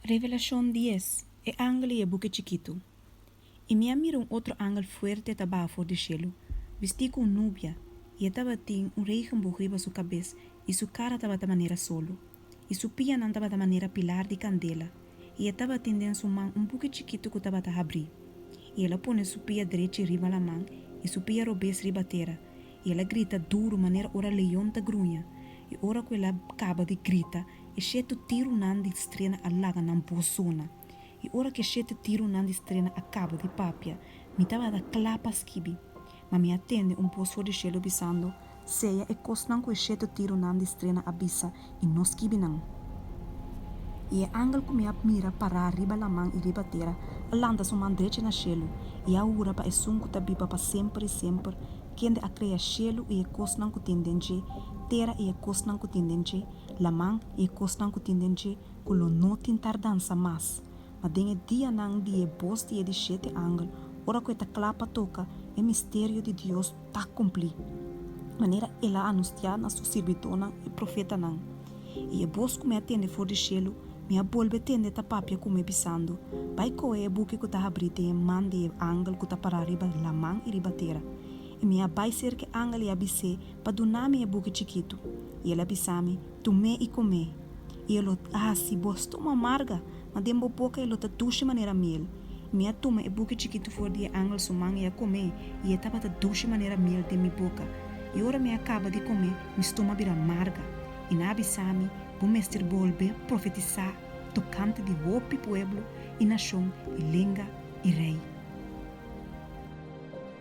Revelashon dies, E angel i e buki chikitu. I mi a mira un otro angel fuerte ta baha for di shelu, bistí ku un nubia, i e tabatin un regenboog riba su kabes, i su kara tabata manera solu, i su pianan tabata manera pilar di kandela, i e tabatin den su man un buki chikitu ku tabata habrí. I el a pone su pia drechi riba laman i su pia robes riba tera, i el a grita duru manera ora leon ta gruña, i ora ku el a kaba di grita, E shete tirunan di strena a laga nan bo zona. I ora ku e shete tirunan di strena a kaba di papia, mi tabata kla pa skibi. Ma mi a tende un bos for di shelu bisando, Sea e kosnan ku e shete tirunan di strena a bisa i no skibi nan. I e angel ku mi a mira pará riba laman i riba tera a lanta su man drechi na shelu, i a hura pa Esun ku ta biba pa semper i semper, kende a krea shelu i e kosnan ku tin den dje, tera i e kosnan ku tin den dje, laman i e kosnan ku tin den dje ku lo no tin tardansa mas. Ma den e dianan di e bos di e di shete angel, ora ku e ta kla pa toka, e misterio di Dios ta kumplí, manera el a anustiá na su sirbidónan e profetanan. I e bos ku mi a tende for di shelu, mi a bolbe tende ta papia ku mi, bisando, Bai kohe e buki ku ta habrí den e man di e angel ku ta pará riba laman i riba tera. I mi a bai serka e angel i a bis'é, pa duna mi e buki chikitu, i el a bisa mi, Tum'é i kum'é, i e lo ta hasi bo stomo amarga, ma den bo boka e lo ta dushi manera miel. Mi a tuma e buki chikitu for di e angel su man i a kum'é, i e tabata dushi manera miel den mi boka. I ora mi a kaba di kum'é, mi stomo a bira amarga. I nan a bisa mi, Bo mester bolbe profetisá tokante di hopi pueblo i nashon i lenga i rei.